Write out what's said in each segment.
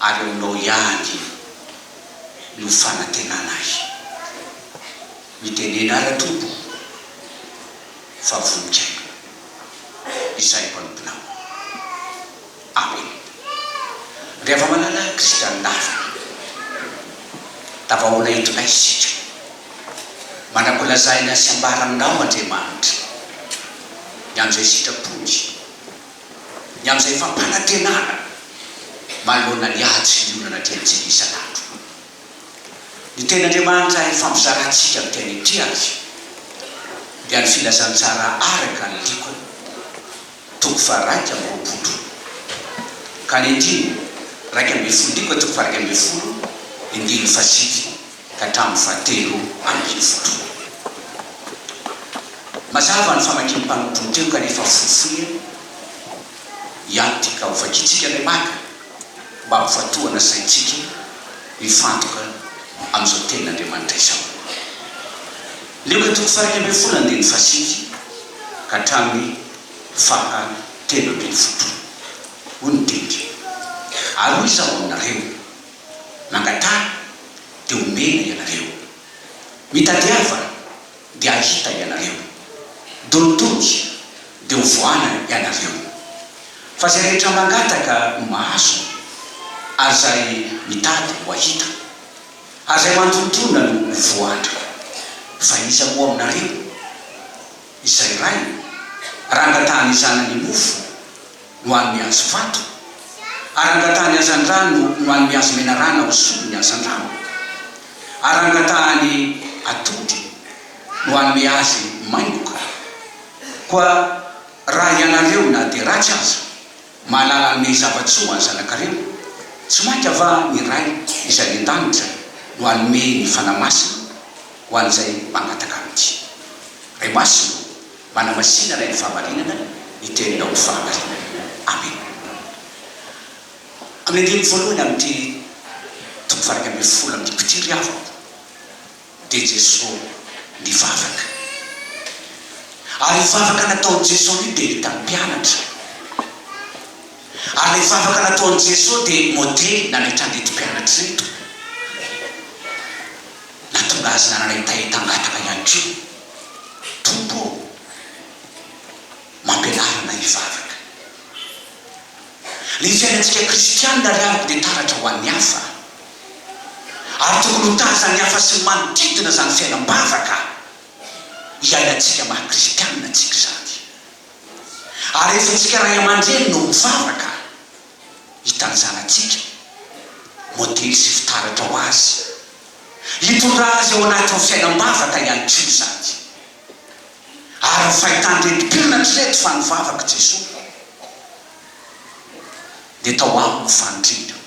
Ary aminao ihany io no fanantenana ahy. Mitenena ara tompoko fa voninkaina izahay mpanomponao. Amena. Ry hava-malala kristianindavana, tavaoana eto indray isika. Manakolazahina sy ambara aminao Andriamanitra ny anjely sitrapon'ny. ny amin'izay fampanantenana manoloana ny ady sy ny olana diantsika isan'andro. Ny tenin'Andriamanitra ary ny fampizarantsika ny tena ity avy dia ny filazantsara araka ny Diko toko faharaika amby roapolo ka ny andininy raika ambin'ny folo Diko toko faharaika ambin'ny folo, ny andininy fahasivy. ka hatramin'ny fahatelo ambin'ny folo. Mazava ny famakian'ny mpanompon'ny teny kanefa fohifohy eny ihany ity ka ho vakintsika ilay maka mba hampivatohana saintsika hifantoka amin'izao tenin'Andriamanitra izao. Lioka toko faha-iraika ambin'ny folo andininy fahasivy ka hatramin'ny faha telo ambin'ny folo. Hoy ny teny, Ary hoy izaho aminareo, Nangatara dia omena ianareo. Mitadiava dia hahita ianareo. Dontoja dia ho voana ianareo. Fa izay rehetra mangataka no mahazo, ary izay mitady no hahita, ary izay mandontona no ho voan-dry. Fa iza moa aminareo izay ray, raha angatahany zanany mofo, no any mihazo vato, ary angatahany hazandrano no any mihazo menarana ho solony hazandrano, ary angatahany atody no any mihazy maingoka. Koa raha hianareo na dia ratsy aza, mahalala hanome zava-tsoa ho any zanakareo, tsy mainka va ny Ray izay any an-danitra no hanome ny Fanahy Masina ho an'izay mangataka Amity? Ray Masina o! Manamasinana eny fahamarinana ny teninao ny fahamarinana. Amen. Amin'ny andininy voalohany amin'ity toko varaika ambin'ny folo amin'ity mpitiry ry havako dia Jeso nivavaka. Ary io vavaka nataon'i Jeso io dia hitan'ny mpianatra. Ary ilay vavaka nataon'i Jeso dia modely nametrahan'ireto mpianatra ireto. Nahatonga azy nanana hetaheta hangataka ihany koa. Tompo ô, mampianara anay hivavaka. Ny fiainantsika kristianina ry havy dia taratra ho an'ny hafa, ary tokony ho tazan'ny hafa sy ny manodidina izany fiainam-bavaka iainantsika maha-kristianina antsika izany. Ary rehefa antsika ray aman-dreny no mivavaka, hitan'ny zanatsika modely sy fitaratra ho azy. Hitondrà azy ao anatin'ny fiainam-bavaka ihany koa izany. Ary ny fahitan'ireto mpianatra ireto fa nivavaka Jesoa dia tao aminy ny faniriany.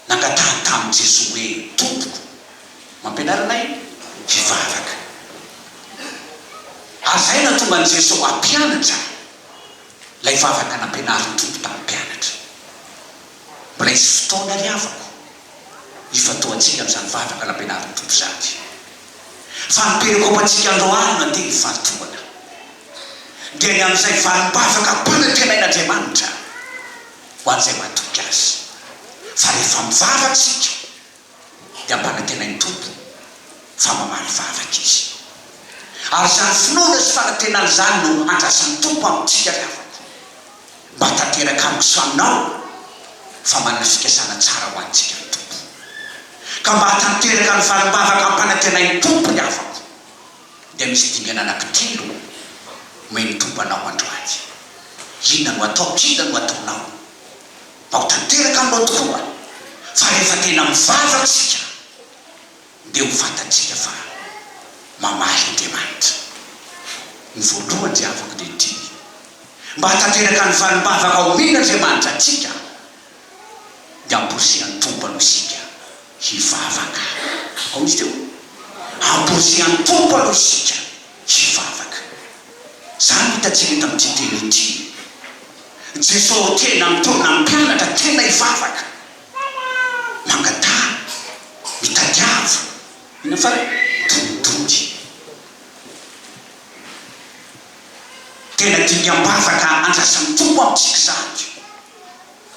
Nangatahany tamin'i Jesoa hoe, Tompoko, mampianara anay hivavaka. Ary izay no nahatonga an'i Jesoa hampianatra ahy. Ilay vavaka nampianarin'ny Tompo tamin'ny mpianatra. Mbola hisy fotoana ry havako hifantohantsika amin'izany vavaka nampianarin'ny Tompo izany. Fa ny perikôpantsika andro alina dia ny fahatohana. Dia ny amin'izay valim-bavaka ampanantenain'Andriamanitra ho an'izay mahatoky Azy. Fa rehefa mivavaka isika dia ampanantenain'ny Tompo fa mamaly vavaka Izy. Ary izany finoana sy fanantenana izany no andrasan'ny Tompo amintsika ry havana, mba hatanteraka amiko sy aminao fa manana fikasana tsara ho antsika ny Tompo. Ka mba hatanteraka ny valim-bavaka ampanantenain'ny Tompo ry havako, dia misy dingana anankitelo omen'ny Tompo anao androany. Inona no ataoko? Inona no ataonao? Ao tanteraka aloha tokoa fa rehefa tena mivavaka isika dia ho fantatsika fa mamaly Andriamanitra. Ny voalohany izay avako dia ity, mba hahatanteraka ny valim-bavaka omena Andriamanitra antsika dia amporisihan'ny Tompo aloha isika hivavaka. Aoka izy teo, amporisihan'ny Tompo aloha isika hivavaka. Izany no hitantsika eto amin'ity teny ity. Jesosy tena mitaona mpianatra tena hivavaka, mangatahana, mitadiava. Inona farany? Todi-tody. Tena dingam-bavaka andrasan'ny Tompo amintsika izany.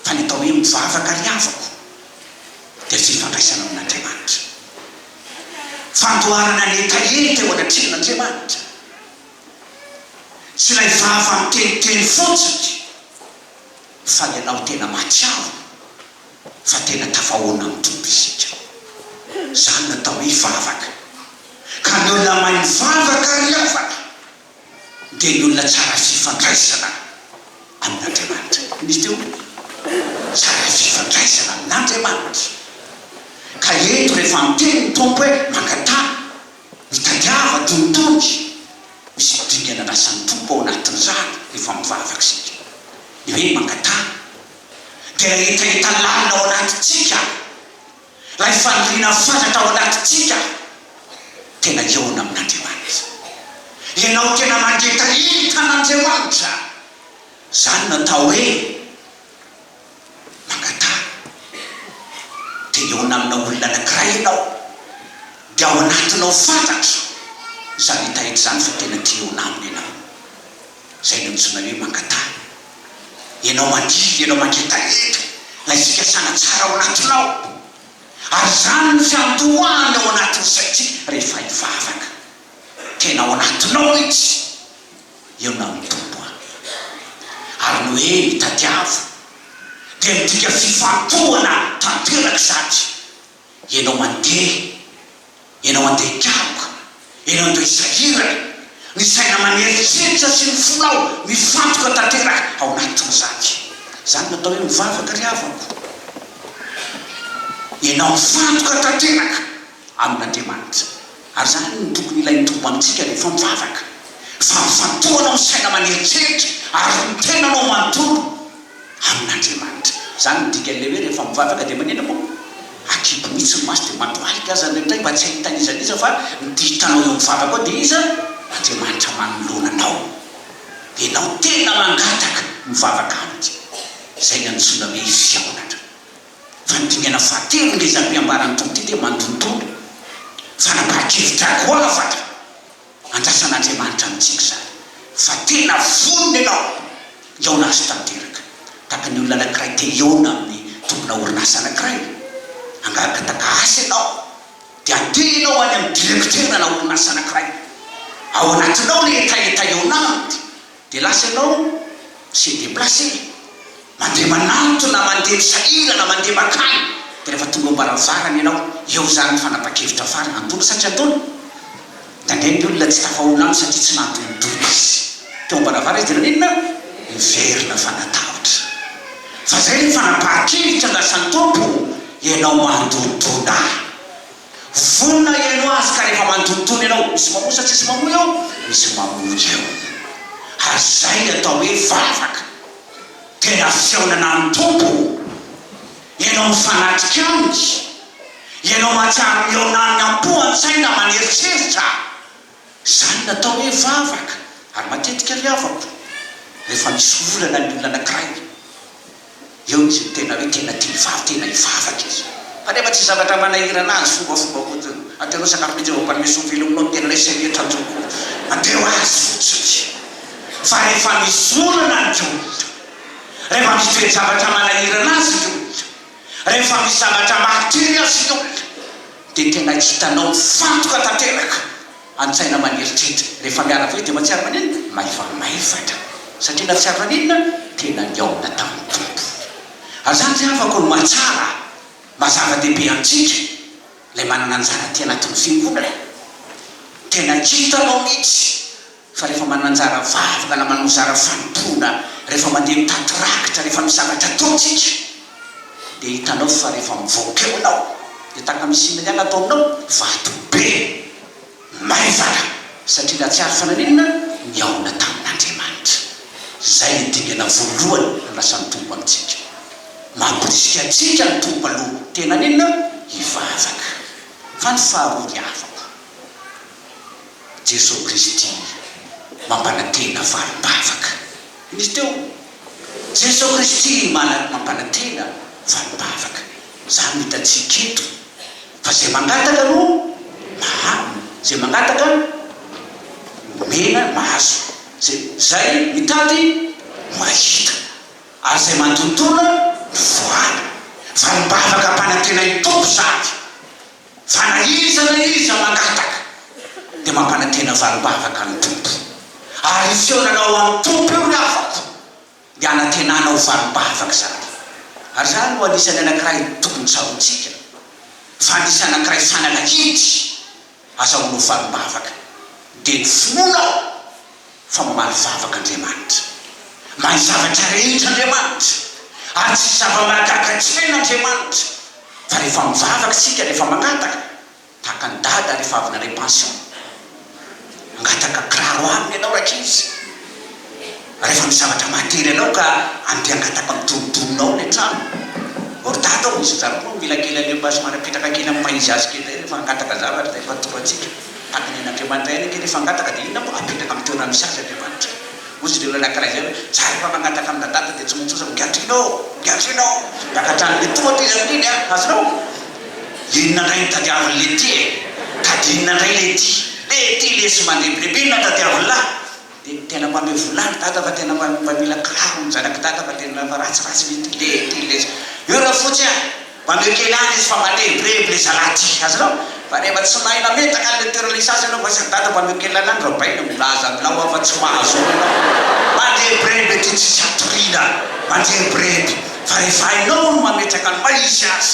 Fa ny atao hoe mivavaka ry havako dia fifandraisana amin'Andriamanitra. Fandoharana ny hetaheta eo anatrehan'Andriamanitra. Tsy ilay vava miteniteny fotsiny fa ny anao tena mahatsiaro fa tena tafahoana amin'ny Tompo isika. Izany no atao hoe hivavaka. Ka ny olona mahay mivavaka ry havana. dia ny olona tsara fifandraisana amin'Andriamanitra. Inona izy teo? Tsara fifandraisana amin'Andriamanitra. Ka eto rehefa miteny ny Tompo hoe mangataha, mitadiava, tonitony, misy dingana andrasan'ny Tompo ao anatin'izany rehefa mivavaka isika. Ny hoe mangataha dia hetaheta lalina ao anatintsika. ary faniriana fatratra ao anatintsika tena hihaona amin'Andriamanitra. Ianao tena mangeta iny tan'Andriamanitra. Izany no atao hoe mangataha. Te hihaona amina olona anankiray ianao, dia ao anatinao fatratra izany hita hita izany fa tena te hihaona aminy ianao. Zay le mitsoina hoe mangata. Ianao mandidy, ianao mangetaheta lay fikasana tsara ao anatinao. Ary izany no fiandohany ao anatin'ny saintsika rehefa hivavaka. Tena ao anatinao mitsy io na ny Tompo an. Ary ny hoe mitadiava dia midika fifantohana tanteraka izany. Ianao mandeha, ianao andeha an-karoka, ianao andeha hisahirana, ny saina maneritreritra sy ny fonao mifantoka tanteraka ao anatin'izany. Izany no atao hoe mivavaka ry havako. Ianao mifantoka tanteraka amin'Andriamanitra. Ary izany no tokony ilain'ny Tompo amintsika rehefa mivavaka, fa mifantohanao ny saina maneritreritra ary ny tenanao manontolo. amin'Andriamanitra. Izany no dikan'ilay hoe rehefa mivavaka dia manina moa? Akibo mihitsy ny maso dia mandohalika aza indraindray mba tsy hahita n'iza n'iza fa ny dia hitanao eo mivavaka ao dia iza? Andriamanitra manoloana anao. Dia ianao tena mangataka mivavaka aminy. Izay no antsoina hoe fihaonana. Fandinihana fahatelo ngeza ampiambaran'ny Tompo ity dia mandondona fanapahan-kevitra goavana. Andrasan'Andriamanitra amintsika izany fa tena vonona ianao hihaona Azy tanteraka. Tahaka ny olona anankiray te hihaona amin'ny tompona orinasa anankiray, hangarakataka asa ianao, dia andeha ianao any amin'ny direkiterana orinasa anankiray. Ao anatinao ilay hetaheta hihaona Aminy, Dia lasa ianao se deplacer, mandeha manantona na mandeha misahirana mandeha mankany, dia rehefa tonga eo am-baravarana ianao, eo izany ny fanapan-kevitra farany, antony sa tsy antony? Indraindray ny olona tsy tafahola amiko satria tsy nantonitony izy, teo am-baravarana izy dia nanao inona? Niverina fa natahotra. Fa izay ilay fanapahan-kevitra andrasan'ny Tompo, ianao mandondona. Vonona hihainoa azy ka rehefa mandonitony ianao, misy mamoa sa tsisy mamoa eo? Misy mamoa eo. Ary izay ny atao hoe vavaka. Tena fihaonana amin'ny Tompo. Ianao mifanatrika Aminy. Ianao mahatsiaro mihaona Aminy am-po, an-tsaina, aman-eritreritra. Izany natao hoe vavaka ary matetika ry havako rehefa misy olana ny olona anankiray dia eo izy no tena hoe tena te hivavaka, tena hivavaka izy. Fa rehefa tsy zavatra manahirana azy, fombafomba fotsiny, atereo sakafo mihitsy, vao mpanome sofy velominao no tena hoe sehatra an-tsaiko, atereo azy fotsiny. Fa rehefa misy olana ny olona, rehefa misy toe-javatra manahirana azy ny olona, Rehefa misy zavatra mahatery azy ianao, dia tena hitanao mifantoka tanteraka an-tsaina aman'eritreritra. Rehefa miala velona dia mahatsiaro maninona? Maivamaivana. Satria nahatsiaro maninona? Tena nihaona tamin'ny Tompo. Ary izany ry havako no mahatsara maha zava-dehibe antsika, ilay manana anjara aty anatin'ny fiangonana. Tena hitanao mihitsy. Fa rehefa mananjara vavaka na manao zara fanompoana, rehefa mandeha mitady rakitra, rehefa misangatra atody tsika, dia hitanao fa rehefa mivoaka eo ianao, dia tahaka ny similien atao aminao, vato be, maivana, satria nahatsiaro fa naninona? Nihaona tamin'Andriamanitra. Izay no dingana voalohany andrasan'ny Tompo amintsika. Mamporisika antsika ny Tompo aloha, tena aninona? Hivavaka. Fa ny faharoa, ry havako, Jesoa Kristy mampanantena valim-bavaka. Nisy teo, Jesoa Kristy mana mampanantena valim-bavaka. Izany no hitantsika eto, fa izay mangataka no mahazo, izay mangataka no omena, mahazo, izay mitady no mahita, ary izay mandontona no voany. Valim-bavaka ampanantenan'ny Tompo izany. Fa na iza na iza mangataka dia mampanantena valim-bavaka ny Tompo, ary io feo nanao ho an'ny Tompo io ny havako dia hanantenana ho valim-bavaka izany. Ary izany no anisan'ny anankiray tokony tsaroantsika, fa nisy anankiray fanala kevitra aza ho anao valim-bavaka, dia ny finoana aho. fa mamaly vavaka Andriamanitra. Mahay zavatra rehetra Andriamanitra, ary tsy zava-mahagaga tsy hainy Andriamanitra. Fa rehefa mivavaka isika, rehefa mangataka, tahaka an'i Dada rehefa avy nandray pension, mangataka kiraro aminy ianao rankizy, rehefa misy zavatra mahatery anao ka andehangataka am'donidononao ilay trano, or Dada ao misy an'izany koa mila kely aleo mba somary apetraka kely am'paizazy kely izay rehefa hangataka zavatra izay fa toro antsika. Mpanabe an'Andriamanitra ihany ange rehefa hangataka dia inona moa? Apetraka amin'ny toerany misy azy Andriamanitra. Hoy izy ireo ilay lahilahy izay hoe, Izaho rehefa mangataka amin'ny Dadada dia tsy maintsy oza migadra eny aho, migadra eny aho. Maka hatrany ny tohatra izy amin'iny an! Azonao? Inona indray no tadiavin'i Letty e? Tadinina indray Letty. Letty lesy mandebireby, inona tadiavin'lah? Dia tena mpamely vola ry dada fa tena mpamila kiraro ny zanak'i dada fa tena fa ratsy ratsy mihitsy ty le ty le io rafotsy a! mba meo kely any izy fa mba lebreb le zalahy ty azonao? fa rehefa tsy mahay mametraka any le toerana hisy azy ianao fa sary dada mba meo kely any andro abaina e! milaza aminao aho fa tsy mahazo eo ianao mba lebreb ety tsisy hatoriana mba lebreb fa rehefa hainao ny mametraka ny maha izy azy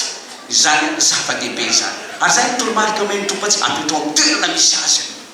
izany zava-dehibe izany ary izay ny toromarika omen'ny Tompo atsika apetraho amin'ny toerana misy azy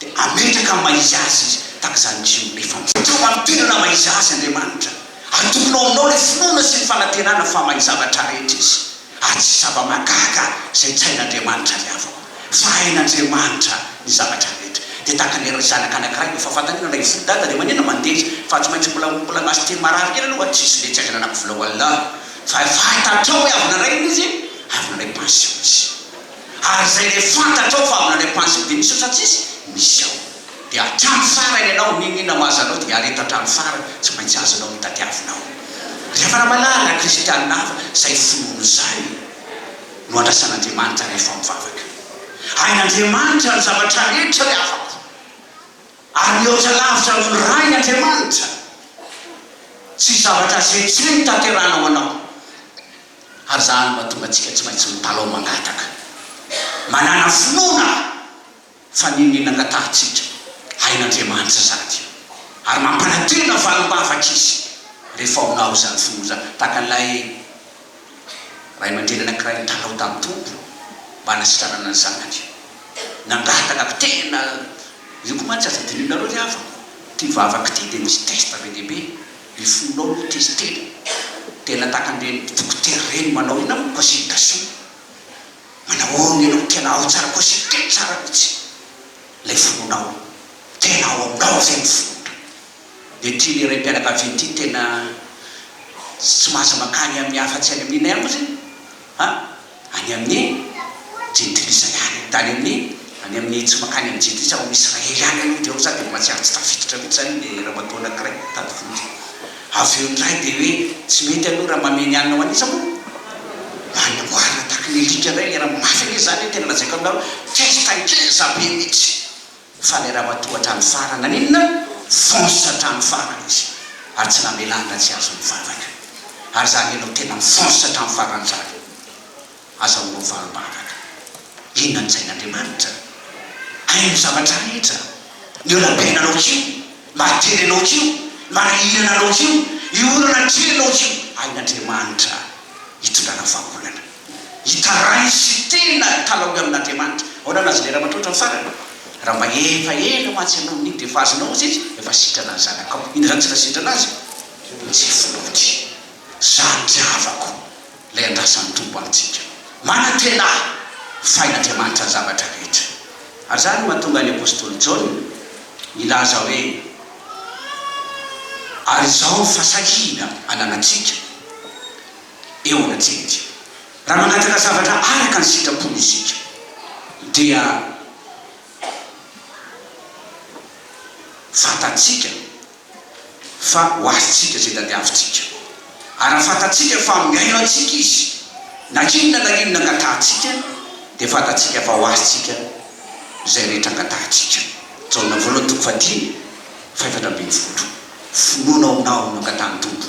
dia ametraka amin'ny maha-izy-azy izy, tahaka izany koa izao. Mifandratra ho an'ny tenany amin'ny maha-izy-azy Andriamanitra. Atokona ao aminao ilay finoana sy ny fanantenana fa mahay zavatra rehetra izy, ary tsy zava-mahagaga izay tsy hain'Andriamanitra ny havako, fa hain'Andriamanitra ny zavatra rehetra. Dia tahaka ny ran-janaka anankiray, efa fantany hoe nalaivo fo ny dadany, dia maninona mandeha izy, fa tsy maintsy mbola mbola mahazo teny marary kely aloha, tsy hisy leha tsy aingana anaky vola ho Allah, fa fantatrao hoe avy nalaina izy, avy nalai-pansiona izy. ary izay le fantatrao fa avy nandeha panziny de misy otrany tsisy misy ao de hatrany farany ianao niniana ho azanao de hiareto hatrany farany tsy maintsy azonao ny tadiavinao rehefa raha malala kristianina hafa izay finoany izany no andrasan'Andriamanitra rehefa mivavaka hain'Andriamanitra ny zavatra rehetra ry havako ary mihoatra lavitra noho ny rainy Andriamanitra tsy zavatra zetseny tanterahana ho anao Ary zany no mahatonga antsika tsy maintsy mitalaho mangataka, manana finoana fa ny iniana angatahantsika hain'Andriamanitra sady ary mampanantena valim-bavaka Izy rehefa onao izany finoana izany. Tahaka an'ilay ray aman-dreny anankiray nitalaho tamin'ny Tompo mba hanasitranana ny zanany. Nangataka ko tena, io ko mantsy aza dinihinareo ry havako, ity vavaka ity dia misy test be dia be. Ny fonao no test e! Tena takan'ireny dokotera ireny manao inona moa consultation? Manahoana ianao tena ao tsara consulter tsara mihitsy ilay fonao e! Tena ao aminao izay ny fonao! Dia ity ilay raim-pianakaviana ity tena tsy mahazo mankany amin'ny afa-tsy any amin'inay moa izany a! Any amin'ny Jentilisa ihany, tany amin'ny, any amin'ny, tsy mankany amin'ny Jentilisa, ao amin'ny Israely ihany aloha, dia ao za dia mbola tsy afaka tafiditra mihitsy izany ilay ramatoa anankiray mitady vola. Avy eo indray dia hoe, tsy mety aloha raha mamehy ny hanina ho an'iza moa? Ho an'ny amboara, tahaka ny alika indray ilay raha, mafy anie izany, tena lazaiko aminareo, test ngeza be mihitsy. Fa ny ramatoa hatrany farany naninona? Fonce hatrany farany izy ary tsy namelany raha tsy azo nivavaka. Ary zany enao tena mifonce hatrany farany zany. Aza ho rovarom-baraka. Inona ny sain'Andriamanitra? Hainy zavatra rehetra. Ny olam-piainanao k'io, ny maha-tery anao k'io, ny maha-hihinana anao k'io, ny olana atrehinao k'io, hain'Andriamanitra hitondrana vahaolana. Hita rainy sy tena kalaoy amin'Andriamanitra. Ahoana no azonay ramatroatra ny farany? Raha mba efa ela mantsy ianao no niditra, efa azonao ozy izy, efa sitrana ny zanakao. Inona izany tsy nasitrana azy? Tsy finoany. Zany tsy havako ilay andrasan'ny Tompo amintsika. Manantena aho fa hain'Andriamanitra ny zavatra rehetra. Ary izany no mahatonga ny apostoly Jaona nilaza hoe, Ary izao fasahiana ananantsika. eo anatintsika. Raha mangataka zavatra araka ny sitrapony isika, dia fantatsika fa ho azontsika izay tadiavintsika. Ary raha fantatsika fa mihaino antsika Izy, na inona na inona angatahantsika, dia fantatsika fa ho azontsika izay rehetra angatahantsika. Jaona voalohany toko fahadimy, fahefatra ambin'ny folo. Finoana ao aminao no angatahan'ny Tompo.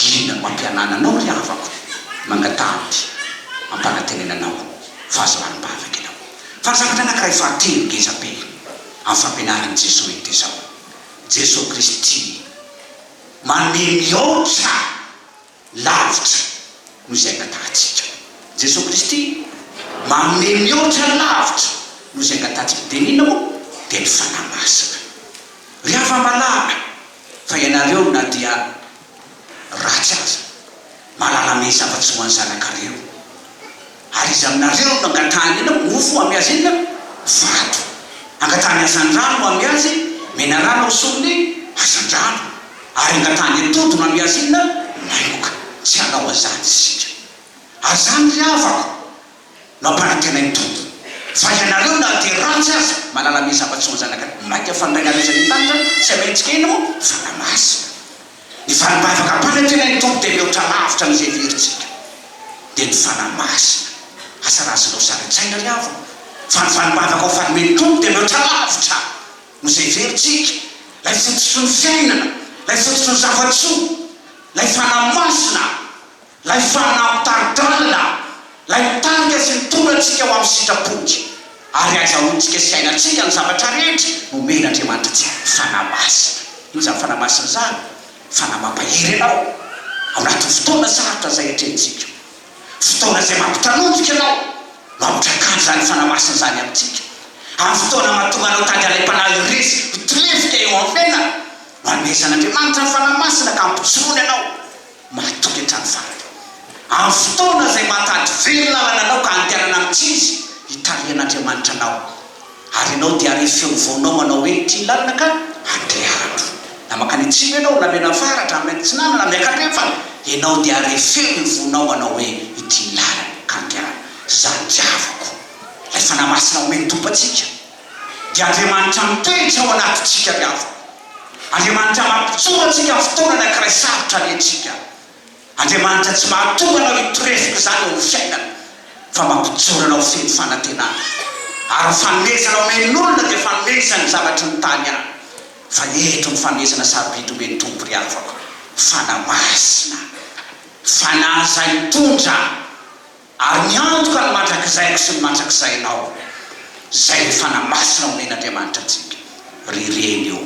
Inona no ampianana anao ry havako? Mangataha aho ity ampanantenena anao fa aza marim-bavaka ianao fa ny zavatra anankiray fahatelo ngeza be amin'ny fampianaran'i Jesoa iny dia izao, Jesoa Kristy tia manome mihoatra lavitra noho izay angatahantsika. Jesoa Kristy manome mihoatra lavitra noho izay angatahantsika. Dia ny inona moa? Dia ny Fanahy Masina. Ry hava-malaha! fa ianareo na dia ratsy aza mahalala mey zava-tsy ho an'ny zanakareo. Ary iza aminareo no nangatahany ena mofo ho amy azy ena vato? Angatahany hazandrano ho amy azy menarana ho solony hazandrano, ary angatahany atody ho amy azy ena maingoka. Tsy hanao azany isika. Ary zany ry havako, Mampanaiky anay ny Tompo. Fa ianareo na dia ratsy aza, malala mey zava-tsy ho an zanaka ny maika fa ny Rainareo izay any an-danitra tsy hamela antsika hino ho fanahy masina. Ny vanim-bavaka ampanaiky anay ny Tompo dia mihoatra lavitra an'izay heverintsika. Dia ny fanahy masina. Asa raha azonao sary an-tsaina ry havana fa ny vanim-bavaka ho fanomen'ny Tompo dia mihoatra lavitra noho izay heverintsika. Ilay fototry ny fiainana, ilay fototry ny zava-tsoa, ilay fanahy masina. Ilay Fanahy mitari-dalana, Ilay mitanika sy mitondra antsika ho amin'ny sitrapontsy ary ahazahoantsika sy iainantsika ny zavatra rehetra nomen'Andriamanitra antsika, ny Fanahy Masina. Inona izany Fanahy Masina izany? Fanahy mampahery anao ao anatin'ny fotoana sarotra izay atrehintsika. Fotoana izay mampitanonjika anao no ampitrakany izany Fanahy Masina izany amintsika. Amin'ny fotoana mahatonga anao tady alaim-panahy ho resy ho tolefika eo amin'ny fiainana no anomezan'Andriamanitra ny Fanahy Masina ka ampijoroany anao. Matoky hatrany farany. Amin'ny fotoana izay mahatady very lalana anao ka andehanana amin'ny tsy izy, hitarihan'Andriamanitra anao. Ary ianao dia hare feo mivaonao manao hoe, Ity ny lalana ka andehanako. Na mankany atsimo ianao, na mianany faratra, na mianany atsinanana, na miakatra andrefana, ianao dia hare feo mivaonao manao hoe, Ity ny lalana ka andehanako. Izany diavoko. Ilay Fanahy Masina omeny toba antsika. dia Andriamanitra mitoetra ao anatintsika ny havany. Andriamanitra mampijoro antsika amin'ny fotoana anankiray sarotra alehantsika. Andriamanitra tsy mahatonga anao hitorezoka izany eo amin'ny fiainana, fa mampijoro anao feno fanantenana. Ary ny fanomezana omen'olona dia fanomezany ny zavatry ny tany ihany, fa eto ny fanomezana sarobidy omen'ny Tompo ry havako, fanahy masina, fanahy izay mitondra. Ary ny antoka ny mandrakizaiko sy ny mandrakizainao, izay efa namasina homen' Andriamanitra antsika, ry reny ô,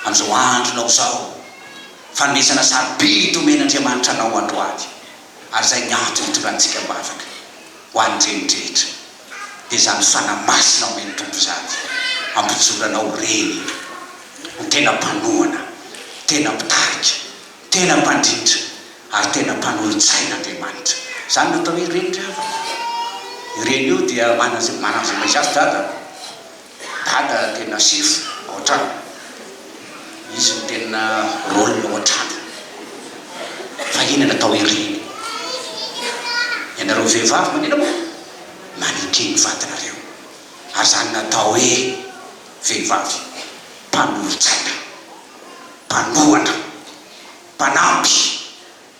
amin' izao andronao izao, fanomezana sarobidy homen' Andriamanitra anao androany, ary izay ny antony hitondrantsika am-bavaka, ho an' ny reny rehetra, dia izany fanahy masina omen' Tompo izany, ampijoranao reny, ho tena mpanohana, tena mpitarika. Tena mpandrindra ary tena mpanolotsaina Andriamanitra. Izany no atao hoe reny ry havana. Io reny io dia manaz- manazavaizay azy dada. Dada tena sefo ao an-trano. Izy no tena rôle ao an-trano. Fa iny no atao hoe reny. Ianareo vehivavy manina moa, maneke ny vadinareo. Ary izany no atao hoe vehivavy mpanolotsaina. mpanohatra, mpanampy,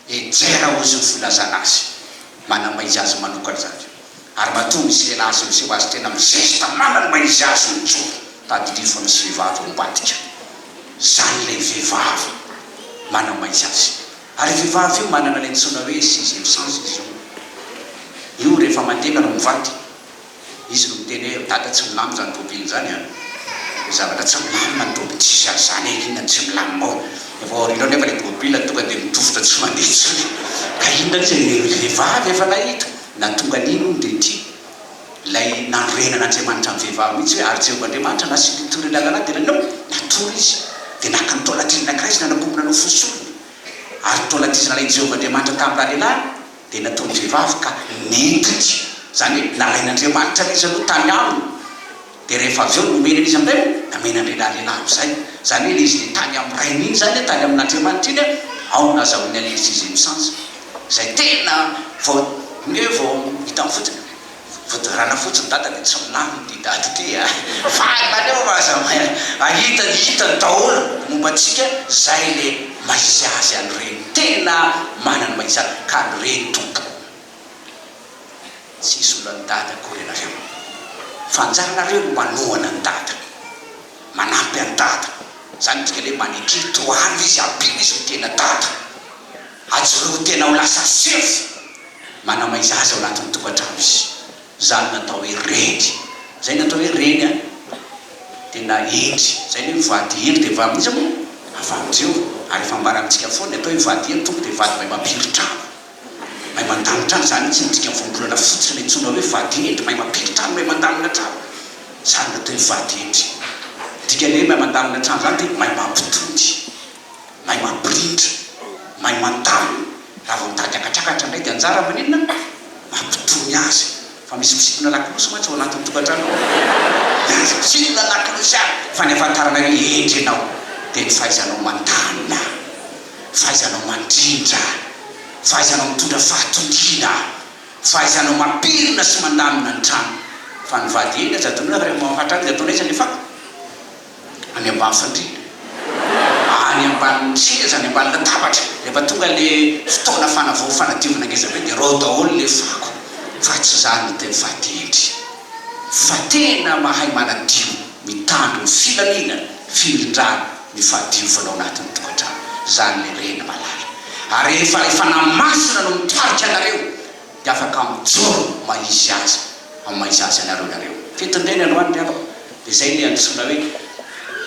enjera hoy izy no filazana azy, manambaiza azy manokana izany, ary matoa misela azy miseho azy tena amin'ny zesta manambaiza azy mijoro. Tadidio fa misy vehivavy ao ambadika, izany ilay vehivavy manambaiza azy, ary io vehivavy io manana ilay antsoina hoe sixième sens izy io, io rehefa mandeha nareo mivady, Izy no miteny hoe, Ry Dada, tsy milamina izany robe inona izany an! Ny zavatra tsy milamina ny robe tsisy azy izany e! Inona no tsy milamina ao? Ny avy ao aoriana ao nefa ilay tomobilina tonga dia mitovitra tsy mandeha intsony! Ka inona anie izay ry vehivavy efa nahita na tonga an'iny hono dia ity ilay nanorenan'Andriamanitra ny vehivavy mihitsy hoe, Ary Jehovah Andriamanitra nasiany ny torohevitra lalana dia nanao, natory izy, dia naka ny taolan-kely anankiray izy nanakombona nofosoriny, ary ny taolan-k'izy nalain'i Jehovah Andriamanitra tamin'ny ralehilahy. Dia natao ny vehivavy ka nentiny, izany hoe nalain'Andriamanitra an'izy aloha tany aminy, dia rehefa avy eo nomeny an'izy amin'izay moa namena an'ilay lahilahy amin'izay, izany hoe ilay izy dia tany amin'ny rainy iny izany, tany amin'Andriamanitra iny an, ao no nazahoany alerzia izay misansa, izay tena vao, ny hoe vao hitan'ny fotsiny. Voadorana fotsiny dada de tsy milamina ty dada ty a! Fa aleo fa aza mahay ahita ny hitany daholo momba antsika zay le mahisy azy any reny tena manany mahisy azy ka any reny tompoko tsisy olany dada akory anareo fa anjaranareo ny manohana any dada manampy any dada zany midika le maneke tohano izy ampio izy ny tena dada. Ajoroa tena ho lasa sefo manamay zaza ao anatin'ny tokantrano izy. Izany no atao hoe reny. Izay no atao hoe reny an. Tena hendry. Izay ny hoe mivady hendry dia vavy mihitsy moa. Avalin'i Jehovah. Ary efa ambara amintsika foana ny atao hoe vady hendry, Tompo dia vady mahay mampiry trano. Mahay mandamina trano. Izany mihitsy no dikan'ny voambolana fotsiny no antsoina hoe vady hendry. Mahay mampiry trano, mahay mandamina trano. Izany no atao hoe vady hendry. Ny dikan'ny hoe mahay mandamina trano izany dia mahay mampitody. mahay mampirindra, mahay mandamina, raha vao mitady hakatrakatrra indray dia anjara maninona? mampitony azy, fa misy mpisintona lakolosy mantsy ao anatin'ny tokantrano ao, dia aza misintona lakolosy any fa ny ahafantarana hoe hendry ianao dia ny fahaizanao mandamina, fahaizanao mandrindra, fahaizanao mitondra fahatongiana, fahaizanao mampirina sy mandamina ny trano, fa ny vady eny aza adinoina fa rehefa mahafatrra azy dia ataonaiza ny fako? any ambany fandriana, any ambany seza, any ambany latabatra, rehefa tonga ilay fotoana fanavao fanadiovana ngeza be dia rao daholo ilay fako fa tsy za no tena fa tendry fa tena mahay manadio mitandro ny filamina firindrana ny fahadiovana ao anatin'ny tokantrano zany le reny malala ary efa efa namasina no mitarika anareo dia afaka mijoro mahizy azy amin'ny maha izazy anareo ianareo. Fitondrena ny hoany ry havako, dia izay ilay antsoina hoe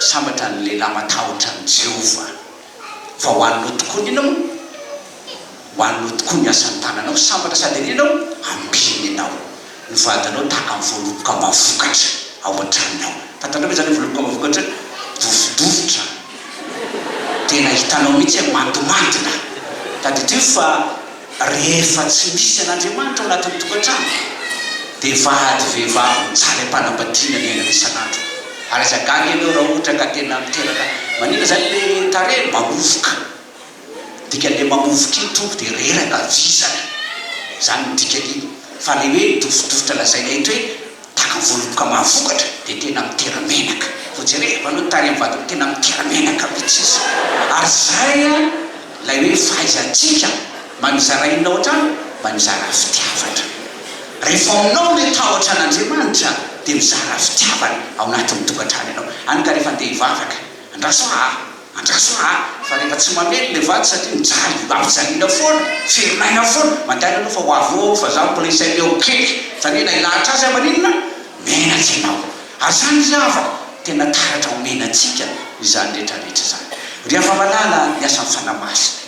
sambatra ny lehilahy matahotra an'i Jehovah. Fa ho anao tokoa ny inona moa? Ho anao tokoa ny asan'ny tananao, sambatra sady an'iny ianao, ampiany ianao. Ny vadinao tahaka ny voaloboka mba vokatra ao an-tranony ao. Fantatrao ve izany hoe voaloboka mba vokatra hoe dofodofotra, tena hitanao mihitsy hoe mandimandina. Tadidio fa. Rehefa tsy misy an'Andriamanitra ao anatin'ny tokantrano, dia vady vehivavy mijaly am-panambadiana ny aina isan'andro. Ary aza gaga ianao raha ohatra ka tena miteraka, maninona izany ilay tarehy? Mamovoka. Ny dikan'ilay mamovoka iny tompo dia reraka, vizana. Izany no dikan'iny. Fa ilay hoe midofodofotra lazaina eto hoe. Tana voaloboka mahavokatra dia tena mitera menaka vao jereva aloha tarehy ny vatako tena mitera menaka mitsy izy ary zay a lay hoe fahaizantsika mba mizara inona otrany mba mizara fitiavana rehefa aminao le tahotra an'Andriamanitra dia mizara fitiavana ao anatin'ny tokantrano ianao any ka rehefa andeha hivavaka andraso aah. Andraso a! fa rehefa tsy mamely le vato satria mijaly, ampijaliana foana, ferin'aina aho foana, mandainga aloha fa ho avy eo aho fa za mbola izay leo keky, zany hoe na ilahatra aza maninona menatsy ianao, ary zany ry havako tena taratra ho menatsika izany retraretra izany ry hava-malala, ny asan'ny fanahy masina.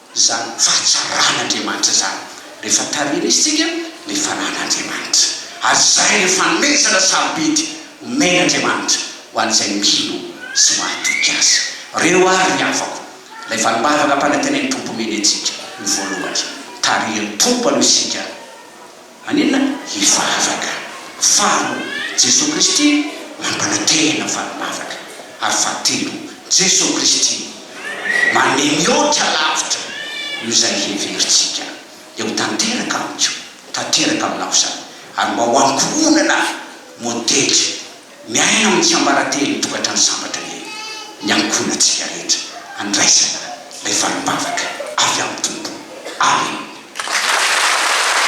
izany fahatsaran'Andriamanitra izany, rehefa tarihin'isika ny fananan'Andriamanitra. Ary izay no fanomezana sarobidy omen'Andriamanitra ho an'izay mino sy mahatoky Azy. Reo àry ry havako, ilay valim-bavaka am-panantenan'ny Tompo omeny antsika, ny voalohany, tarihin'ny Tompo aloha isika, Maninona? Hivavaka. Faharoa, Jesoa Kristy mampanantena fa mivavaka. Ary fahatelo, Jesoa Kristy manome mihoatra lavitra noho izay heverintsika. Dia ho tanteraka amiko, tanteraka aminao izany, ary mba ho ankohonana ahy, modely, miaina amin'ny tsiambaratelon'ny tokantrano sambatra anie ny ankohonantsika rehetra handraisana ilay valim-bavaka avy amin'ny Tompo. Amena.